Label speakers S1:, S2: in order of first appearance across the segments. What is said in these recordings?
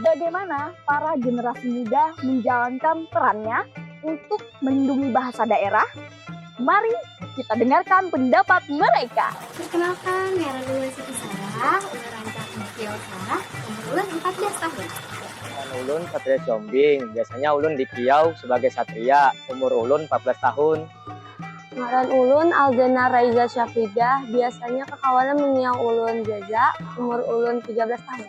S1: bagaimana
S2: para generasi muda menjalankan perannya untuk melindungi bahasa daerah? Mari kita dengarkan pendapat mereka. Perkenalkan,
S3: Nera Dewi Siti Sarah, umur rancak Mukil Sarah, umur ulun 14 tahun. Ulun
S4: Satria Combing, biasanya ulun dikiau sebagai Satria, umur ulun 14 tahun. Ngaran
S2: ulun Alzena Raiza Syafridah, biasanya kakawanan mengiau ulun Zaza, umur ulun 13 tahun.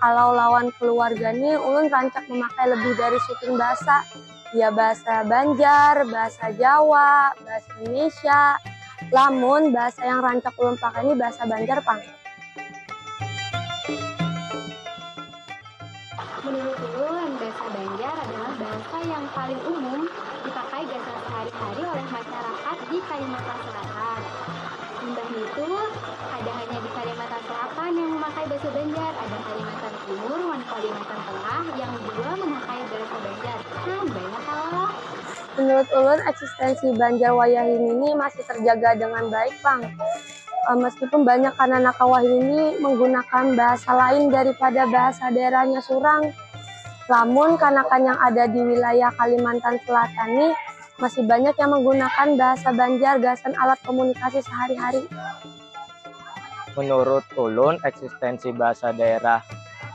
S2: Kalau lawan keluarga ni ulun rancak memakai lebih dari suting bahasa, ya bahasa banjar, bahasa jawa, bahasa indonesia, lamun bahasa yang rancak ulun pakai ni bahasa banjar pang. Menurut ulun
S3: bahasa banjar adalah bahasa yang paling umum dipakai gasan sehari-hari oleh masyarakat di kalimantan selatan. Imbah nitu, kada hanya di Kalimantan Selatan yang mamakai basa Banjar, ada Kalimantan Timur wan Kalimantan Tengah yang jua mamakai basa Banjar. Kan banyak kalo. Menurut
S2: ulun eksistensi Banjar wayahini ni masih terjaga dengan baik pang, meskipun banyak kananak wayahini ni menggunakan bahasa lain daripada bahasa daerahnya surang. Lamun kanakan yang ada di wilayah Kalimantan Selatan ni. Masih banyak yang menggunakan bahasa Banjar gasan alat komunikasi sehari-hari. Menurut
S4: ulun, eksistensi bahasa daerah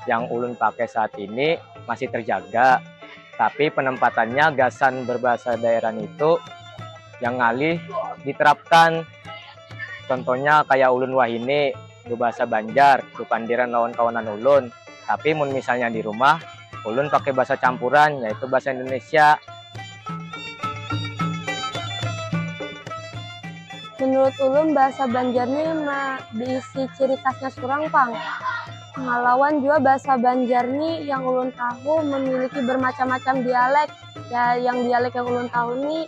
S4: yang ulun pakai saat ini masih terjaga, tapi penempatannya gasan berbahasa daerah nitu yang ngalih diterapkan. Contohnya kayak ulun wahini. Bebasa Banjar, bepandiran lawan kawanan ulun. Tapi mun misalnya di rumah, ulun pakai basa campuran, yaitu basa Indonesia.
S2: Menurut ulun basa Banjar ni ma beisi ciri khasnya surang pang. Lawan jua basa Banjar ni yang ulun tahu memiliki bermacam-macam dialek. Ya, yang dialek yang ulun tahu ni.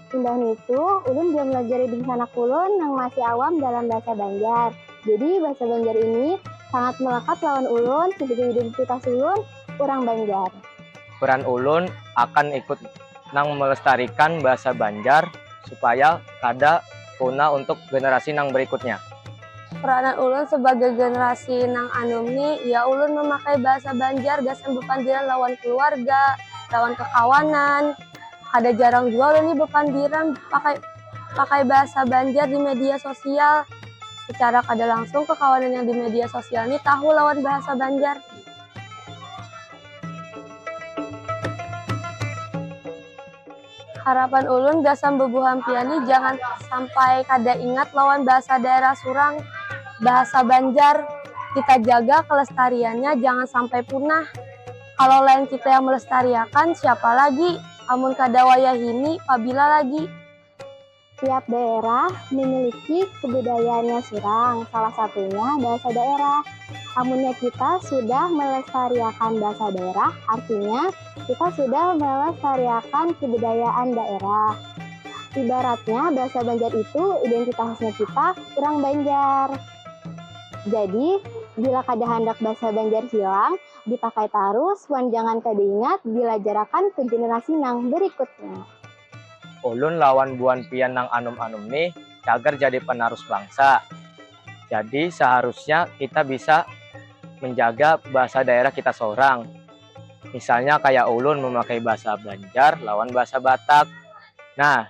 S5: Imbah nitu, ulun jua melajari dingsanak ulun nang masih awam dalam bahasa Banjar. Jadi, bahasa Banjar ini sangat melekat lawan ulun sebagai identitas ulun, urang Banjar. Peran
S4: ulun akan ikut nang melestarikan bahasa Banjar supaya kada punah untuk generasi nang berikutnya. Peranan
S2: ulun sebagai generasi nang anum ni, ya ulun memakai bahasa Banjar gasan bepandiran lawan keluarga, lawan kekawanan, Kada jarang jua ulun nih bapandiran pakai pakai bahasa Banjar di media sosial. Secara kada langsung kakawanan yang di media sosial nih tahu lawan bahasa Banjar. Harapan ulun gasan bubuhan pian nih jangan sampai kada ingat lawan bahasa daerah surang, bahasa Banjar. Kita jaga kelestariannya jangan sampai punah. Kalo lain kita yang melestariakan, siapa lagi? Amun kada wayahini, pabila lagi? Tiap
S5: daerah mimiliki kebudayaannya surang, salah satunya bahasa daerah. Amunnya kita sudah melestariakan bahasa daerah, artinya kita sudah melestariakan kebudayaan daerah. Ibaratnya bahasa Banjar itu identitasnya kita urang Banjar. Jadi, bila kada handak bahasa Banjar hilang, dipakai tarus wan jangan kada ingat dilajarakan ke generasi nang berikutnya. Ulun
S4: lawan buan pian nang anum-anum nih cagar jadi penarus bangsa. Jadi seharusnya kita bisa menjaga bahasa daerah kita sorang. Misalnya kaya ulun memakai bahasa Banjar lawan bahasa Batak. Nah.